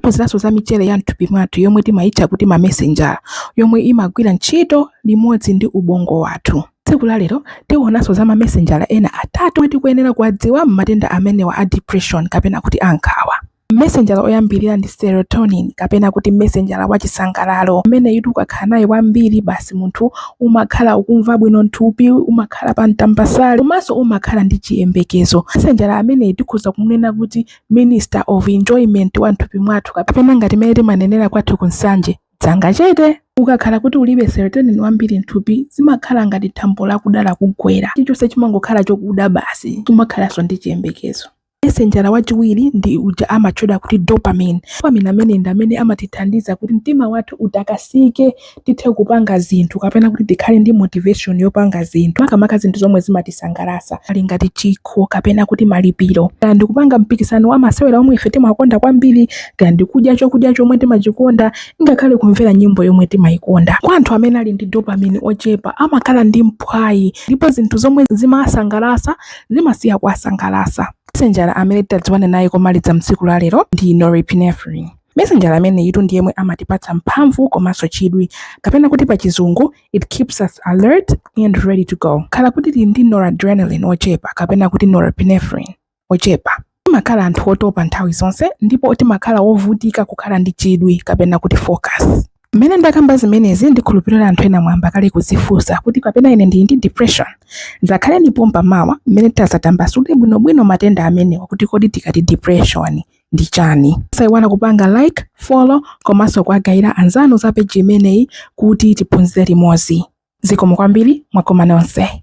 Tiphunziranso za michere ya m'thupi mwathu yomwe timaitcha kuti mamesenjala, yomwe imagwira ntchito limodzi ndi ubongo wathu. Tsiku la lero tionanso za mamesenjala ena atatu omwe tikuyenera kuwadziwa m'matenda amenewa a depression kapena kuti a nkhawa. Mesenjala oyambirira ndi serotonin kapena kuti mesenjala wa chisangalalo. Ameneyutu ukakhala naye wambiri basi munthu umakhala ukumva bwino m'thupi, umakhala pa mtambasale komanso umakhala ndi chiyembekezo. Mesenjala ameneyi tikhoza kumunena kuti minister of enjoyment wa m'thupi mwathu kapena ngati mene timanenera kwathu ku Nsanje dzanga chete ukakhala kuti ulibe serotonin wambiri m'thupi zimakhala ngati thambo lakuda lakugwera chilichonse chimangokhala chokuda basi sumakhalanso ndi chiyembekezo mesenjala wachiwiri ndi uja amatchedwa kuti dopamine dopamine ameneyu ndi amene amatithandiza kuti mtima wathu utakasike tithe kupanga zinthu kapena kuti tikhale ndi motivation yopanga zinthu makamaka zinthu zomwe zimatisangalatsa ali ngati chikho kapena kuti malipiro kaya ndikupanga mpikisano wa masewera omwe ife timakonda kwambiri kaya ndikudya chokudya chomwe timachikonda ngakhale kumvera nyimbo yomwe timayikonda kwa anthu amene ali ndi dopamine ochepa amakhala ndi mphwayi ndipo zinthu zomwe zimawasangalatsa zimasiya kuwasangalatsa mesenjala amene titadziwane naye komaliza m'tsiku la lero ndi norepinephrine Mesenjala ameneyitu ndi yemwe amatipatsa mphamvu komanso chidwi, kapena kuti pa chizungu, it keeps us alert and ready to go. Khala kuti tili ndi noradrenaline ochepa kapena kuti norepinephrine ochepa, timakhala anthu otopa nthawi zonse ndipo timakhala ovutika kukhala ndi chidwi kapena kuti focus. Mmene ndakamba zimenezi, ndikhulupirira anthu ena mwayamba kale kudzifunsa kuti kapena ine ndili ndi depression? Dzakhaleni pompa mawa mmene titadzatambasule bwinobwino matenda amenewa kuti kodi tikati depression, ndi chani? Osaiwala kupanga like, follow komanso kuwagayira anzanu za page imeneyi kuti tiphunzire limodzi. Zikomo kwambiri, mwakoma nonse.